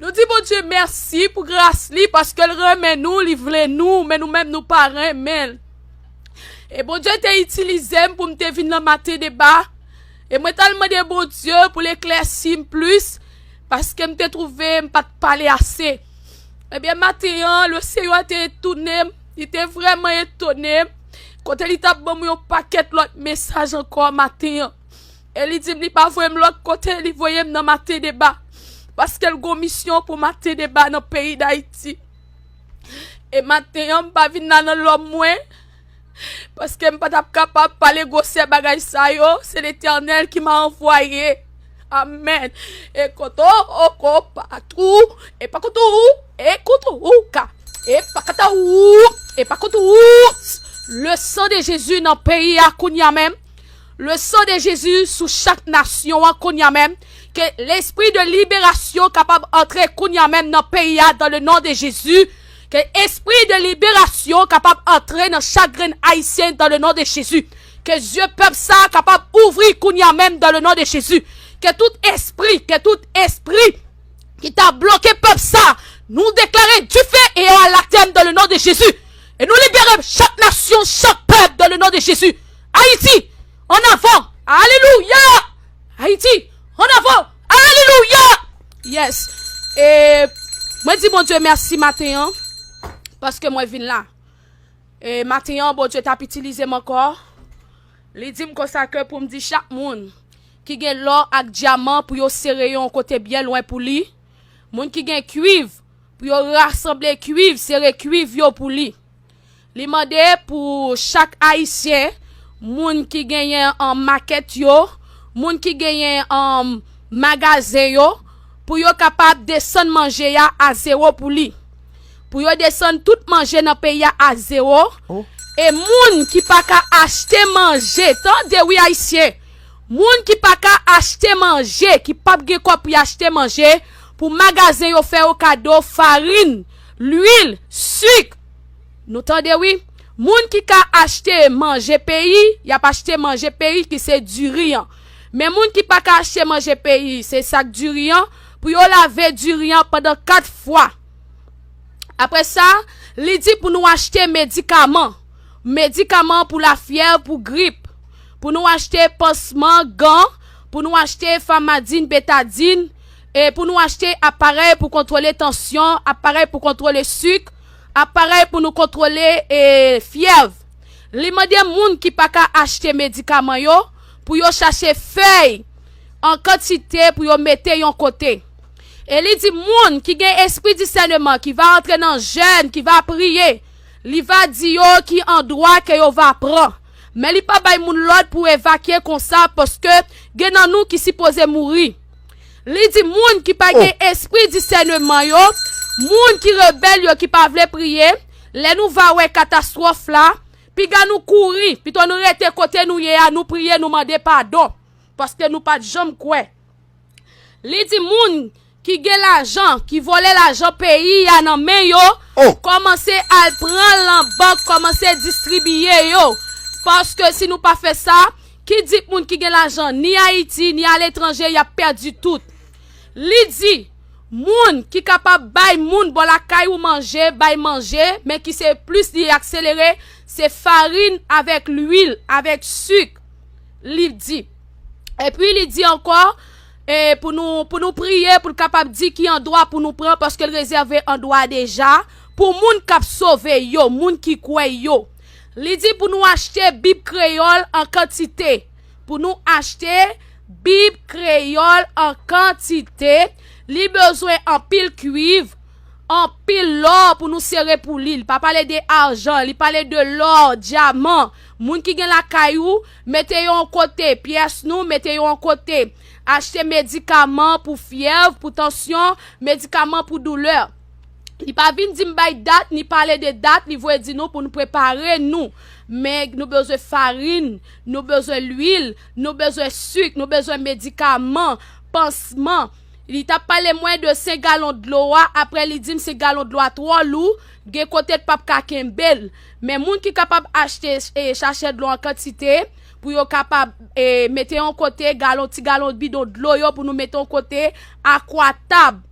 Nou di Bondye mèsi pou gras li paske l renmen nou, li vle nou, men nou menm nou pa renmen l. E Bondye te itilize m pou m te vin nan Maten Deba, e mwen t al mande Bondye pou l eklèsi m plis paske m te twouve m pa t pale ase. Ebyen maten an, Lesenyè te etone m, li te vrèman etone m, kote li t ap ban m yon pakèt lòt mesaj ankò maten an. E li dim li pa voyem lot kote li voyem nan maten deba paskel gon misyon pou maten deba nan peyi dayiti e maten an mpa vin la nan lòm mwen paskem patap kapab pale gwosè bagay sa yo se letènèl ki ma anvwaye amèn e kot o o ko pat ou e pa kot ou e kot ou ka e pa kata ou e pa kot ou le san de jezi nan peyi a kounya menm. Le sang de Jésus sou chak nasyon an kounya menm ke lespri de liberasyon kapab antre kounya menm nan peyi a dan le non de Jezi ke espri de liberasyon kapab antre nan chak grenn ayisyen dan le non de Jezi ke zye pèp sa kapab ouvri kounya menm dan le non de Jezi ke tout espri ke tout espri ki ta bloke pèp sa nou deklare dife e anatèm dan le non de Jezi e nou libere chak nasyon chak pèp dan le non de Jezi. Ayiti! An avan! Alelouya! Ayiti! An avan! Alelouya! Yes! E mwen di Bondye mèsi maten an, paske mwen vin la. E maten an Bondye t ap itilize m ankò, li di m konsa ke pou m di chak moun ki gen lò ak dyaman pou yo sere yo yon kote byen lwen pou li, moun ki gen kuiv pou yo rasanble kuiv, sere kuiv yo pou li. Li mande pou chak Ayisyen, moun ki genyen makèt yo, moun ki genyen magazen yo, pou yo kapab desann manje a a zewo pou li. Pou yo desann tout manje nan peyi a a zewo. E moun ki pa ka achte manje, tande wi Ayisyen, moun ki pa ka achte manje, ki pap gen kòb pou y achte manje, pou magazen yo fè yo kado farin, lwil, sik, Nou tande wi. Moun ki ka achte manje peyi, y ap achte manje peyi ki se diri an. Men moun ki pa ka achte manje peyi, se sak diri an, pou yo lave diri an pandan 4 fwa. Apre sa, li di pou nou achte medikaman. Medikaman pou lafyèv, pou grip. Pou nou achte pansman, gan, pou nou achte famadin, betadin. E pou nou achte aparèy pou kontwole tansyon, aparèy pou kontwole suk, aparèy pou nou kontwole e fyèv. Li mande moun ki pa ka achte medikaman yo pou yo chache fèy an kantite pou yo mete yon kote. E li di moun ki gen espri disèneman ki va antre nan jèn, ki va priye, li va di yo ki andwa ke yo va pran. Men li pa bay moun lòd pou evakye konsa paske gen nan nou ki sipoze mouri. Li di moun ki pa gen espri disèneman yo, moun ki rebèl yo ki pa vle priye, lè nou va wè katastwòf la, piga nou kouri, pito nou rete kote nou ye a, nou priye, nou mande padon, paske nou pa t janm kwè. Li di moun ki gen lajan, ki vòlè lajan peyi a nan men yo, kòmanse al pran l nan bank, kòmanse distribiye yo, paske si nou pa fè sa, Ki di k moun ki gen lajan ni Ayiti ni aletranje y ap pèdi tout. Li di, Moun ki kapab bay moun bò lakay ou manje bay manje men ki se plis li akselere se farin avèk luil avèk sik. Li di. Epi li di ankò e pou nou pou nou priye pou l kapab di ki andwa pou nou pran paske l rezève andwa deja pou moun k ap sove yo, moun ki kwè yo. Li di pou nou achte Bib Kreyòl an kantite. Pou nou achte Bib Kreyòl an kantite, li bezwen anpil kuiv, anpil lò pou nou sere pou li. Li pa pale de ajan, li pale de lò, dyaman. Moun ki gen lakay ou, mete yo an kote. Pyès nou, mete yo an kote. Achte medikaman pou fyèv, pou tansyon, medikaman pou doulè. Li pa vin di m bay dat, ni pale de dat, li voye di nou pou nou prepare nou. Men nou bezwen farin, nou bezwen lwil, nou bezwen suk, nou bezwen medikaman, pansman. Li tap pale mwen de 5 galon dlo a, apre li di m 5 galon dlo a twò lou, gen kote l pap ka kenbe l. Men moun ki kapab achte e chache dlo an kantite, pou yo kapab e mete yon kote, galon ti galon bidon dlo yo pou nou mete yon kote, akwa tab.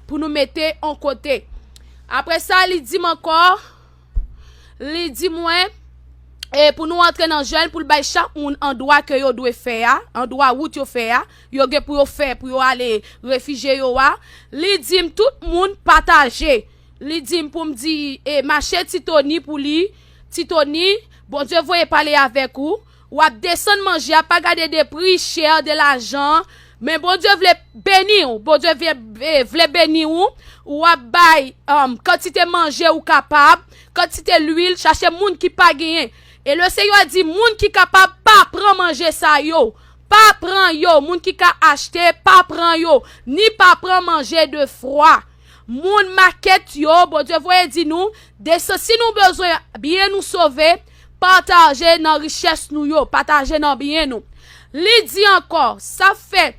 pou nou mete on kote. Apre sa, li di m ankò, li di mwen, e pou nou antre nan jèn pou l bay chak moun andwa ke yo dwe fè a, andwa wout yo fè a, yo gen pou yo fè pou yo ale refijye yo a, li di m tout moun pataje, li di m pou m di e mache Ti Toni pou li, Ti Toni, Bondye voye pale avèk ou. Wap desann manje a pa gade de pri cher de lajan an men Bondye vle beniw Bondye vle beniw ou wap bay kantite manje ou kapab kantite lwil chache moun ki pa genyen e le Senyè di moun ki kapab pa pran manje sa yo pa pran yo moun ki ka achte pa pran yo ni pa pran manje de fwa moun makèt yo Bondye voye di nou desann si nou bezwen byen nou sove Pataje nan richès nou yo, pataje nan byen nou. Li di ankò, sa fè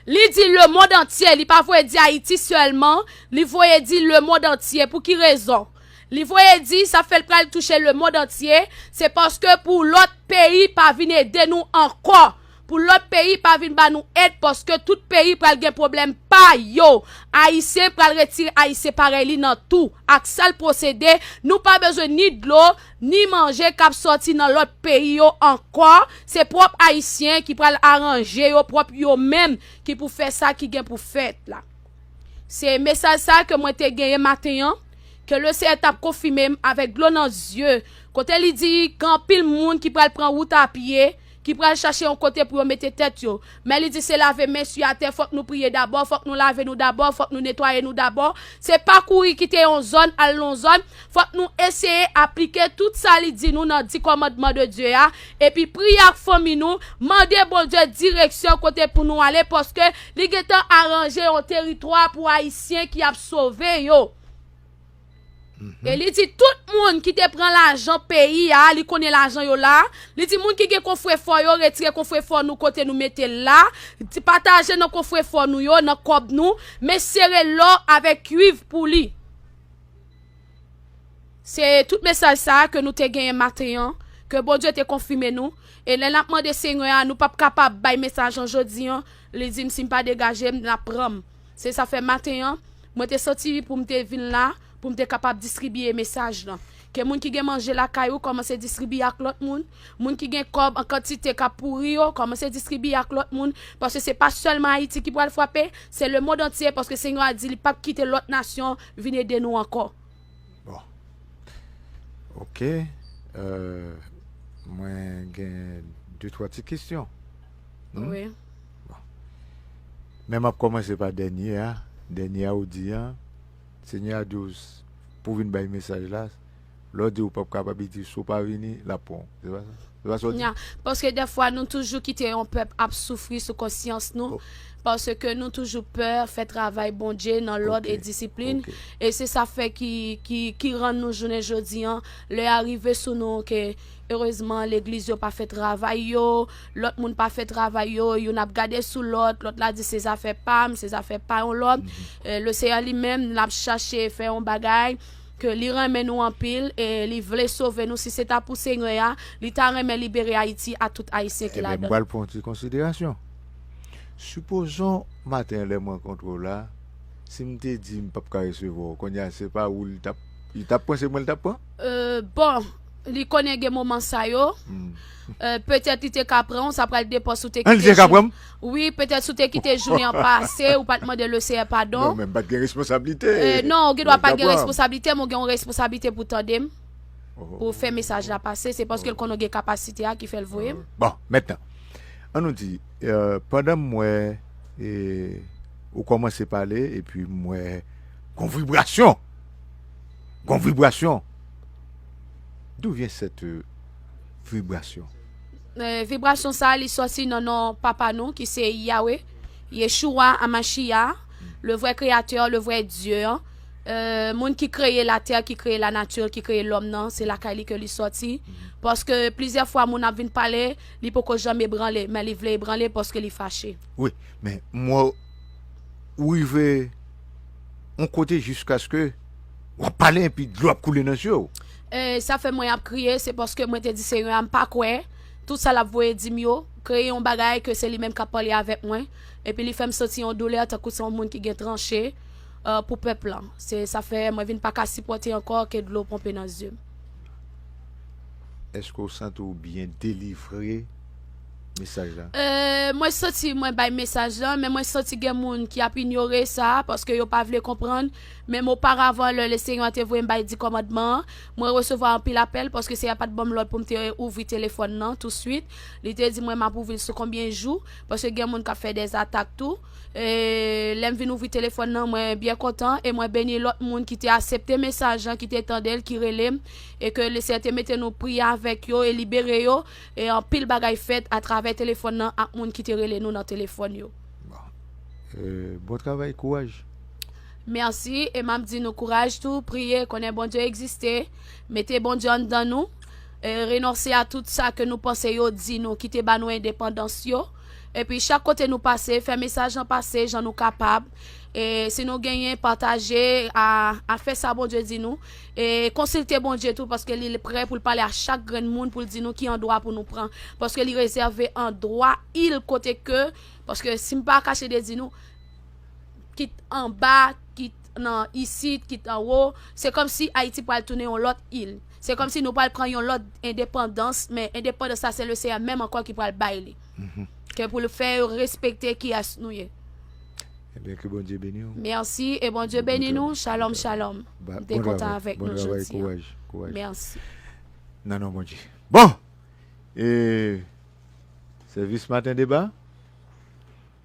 Li di lemond antye, li pa voye di Ayiti sèlman, li voye di lemond antye. Pou ki rezon? Li voye di sa fè l pral touche lemond antye, se paske pou lòt peyi pa vin ede nou ankò. Pou lòt peyi pa vin ba nou èd paske tout peyi pral gen pwoblèm pa yo. Ayisyen pral retire ayisyen parèy li nan tou ak sal pwosede, nou pa bezwen ni dlo, ni manje kap sòti nan lòt peyi yo ankò, se pwòp ayisyen ki pral aranje yo pwòp yo menm ki pou fè sa ki gen pou fèt la. Se mesaj sa ke mwen te genyen maten an, ke Le Seyè tap konfime m avèk dlo nan zye, kote li di gen anpil moun ki pral pran wout a pye, ki pral chache yon kote pou yo mete tèt yo, men li di se lave men su atè, fòk nou priye dabò, fòk nou lave nou dabò, fòk nou netwaye nou dabò, se pa kouri kite yon zòn al lon zòn, fòk nou eseye aplike tout sa li di nou nan di kòmandman de Dye a, epi priye ak fanmi nou, mande Bondye direksyon kote pou nou ale paske li gentan aranje yon teritwa pou ayisyen ki ap sove yo. E li di tout moun ki te pran lajan peyi a, li konnen lajan yo la, li di moun ki gen kofrefò yo retire kofrefò nou kote nou mete l la, pataje nan kofrefò nou yo, nan kòb nou, men sere lò avèk kuiv pou li. Se tout mesaj sa a ke nou te genyen maten an, ke Bondye te konfime nou, e lè n ap mande Senyè a nou p ap kapab bay mesaj lan jodi an, li di m si m pa degaje m, l ap pran m. Se sa fè maten an, mwen te soti pou m te vin la pou m te kapab distribiye mesaj lan. Ke moun ki gen manje lakay ou kòmanse distribiye ak lòt moun. Moun ki gen kòb an kantite k ap pouri yo, kòmanse distribiye ak lòt moun. Paske se pa sèlman Ayiti ki pral frape, se lemond antye paske Senyè a di li pap kite lòt nasyon vin ede nou ankò. Bon. Ok. Mwen gen de twa ti kesyon. Wi. Bon. Men m ap kòmanse pa dènye a. Dènye a ou di an, Senyè a di w s, pou w vin bay mesaj la, lè w di ou p ap kapab, li di w si w pa vini, l ap pran w. Se pa sa? Se pa sa w di? Nan. Paske dèfwa nou toujou kite yon pèp ap soufri sou konsyans nou, paske nou toujou pè fè travay Bondye nan lòd e disiplin, e se sa fè ki, ki, ki rann nou jounen jodi an, lè a rive sou nou ke, erezman, legliz yo pa fè travay yo, Lòt moun pa fè travay yo, youn ap gade sou lòt, lòt la di se zafè pa m, se zafè pa yon lòt. Leseyè li menm, l ap chache fè yon bagay, ke li renmen nou anpil, e li vle sove nou, si se ta pou Senyè a, li ta renmen libere Ayiti ak tout Ayisyen ki Enben, m ladan. pral pran yon ti konsiderasyon. Sipozon, maten lè m rankontre w la, si m te di m p ap ka resevwa w, kounye a se pa ou li t ap, li t ap pran se mwen li t ap pran? Bon! Li konnen gen moman sa yo. Petèt li te ka pran ou, sa pral depan si w te kite jounen. An li te ka pran m? Wi, petèt si w te kite jounen an pase, ou pa t mande Leseyè padon. Non, men m pa t gen responsablite. Non, ou gen dwa pa t gen responsablite, men ou gen yon responsablite pou w tande m, pou w fè mesaj la pase. Se paske l konnen w gen kapasite a ki fè l voye m. Bon, mètnan, an nou di, pandan m wè ou kòmanse pale epi m wè gon vibrasyon, gon vibrasyon. D'où vient cette vibration? Vibration sa li sòti nan non Papa nou ki se Yahweh, Yeshua Amashia, le vrai créateur, le vrai Dieu an, moun ki kreye la terre, ki kreye la nature, ki kreye l'homme nan, se lakay li ke li sòti, paske plizyè fwa moun ap vin pale, li poko janm ebranle, men li vle ebranle paske li fache. Wi, men m wè ou rive yon kote jiskaske. Wap pale epi dlo ap koule nan zye w. Eeh sa fè mwen ap kriye se paske mwen te di senyè a m pa kwè tout sa lap voye dim yo kreye yon bagay ke se li menm kap pale avèk mwen epi li fèm santi yon doulè tankou se yon moun ki gen tranche pou pèp lan se sa fè mwen vin paka sipòte ankò ke dlo ponpe nan zyem. Eske ou santi w byen delivre mesaj la? Eeh mwen santi mwen bay mesaj lan men mwen santi gen moun ki ap inyore sa paske yo pa vle konprann Menm oparavan, lè Lesenyè a te voye m bay di kòmandman an, mwen resevwa anpil apèl, paske Senyè a pa t ban m lòd pou m te ouvri telefòn nan tousuit. Li te di mwen m ap ouvri l sou konbyen jou, paske gen moun k ap fè dèzatak tou. E, lè m vin ouvri telefòn nan, mwen byen kontan, e mwen beni lòt moun ki te asepte mesaj lan, ki te tande l, ki rele m, e ke Lesenyè te mete nou priye avèk yo e libere yo, e anpil bagay fèt atravè telefòn nan ak moun ki te rele nou nan telefòn yo. Bon travay kouraj Merci e map di nou kouraj tou priye konnen Bondye egziste mete Bondye anndan nou e renonse a tout sa ke nou panse yo di nou ki te ba nou endepandans yo epi chak kote nou pase fè mesaj lan pase jan nou kapab e si nou genyen pataje a a fè sa Bondye di nou e konsilte Bondye tou paske li prè pou l pale a chak grenn moun pou l di nou ki andwa pou nou pran paske li rezève andwa il kote ke paske si m pa kache de di nou. kit anba, kit nan isit, kit anwo, se kòm si Ayiti pral tounen yon lòt il. Se kòm si nou pral pran yon lòt endepandans, men endepandans la se le Seyè menm ankò ki pral bay li. Mm-hmm. Ke pou l fè yo respekte ki as nou ye. Ebyen eh ke Bondye beni ou. Merci et bon Dieu béni nous. Shalom, shalom. Ba, bon travay. Avec bon nous travay, kouraj, kouraj. Merci. Nan non Bondye. Bon! E, sèvis maten deba.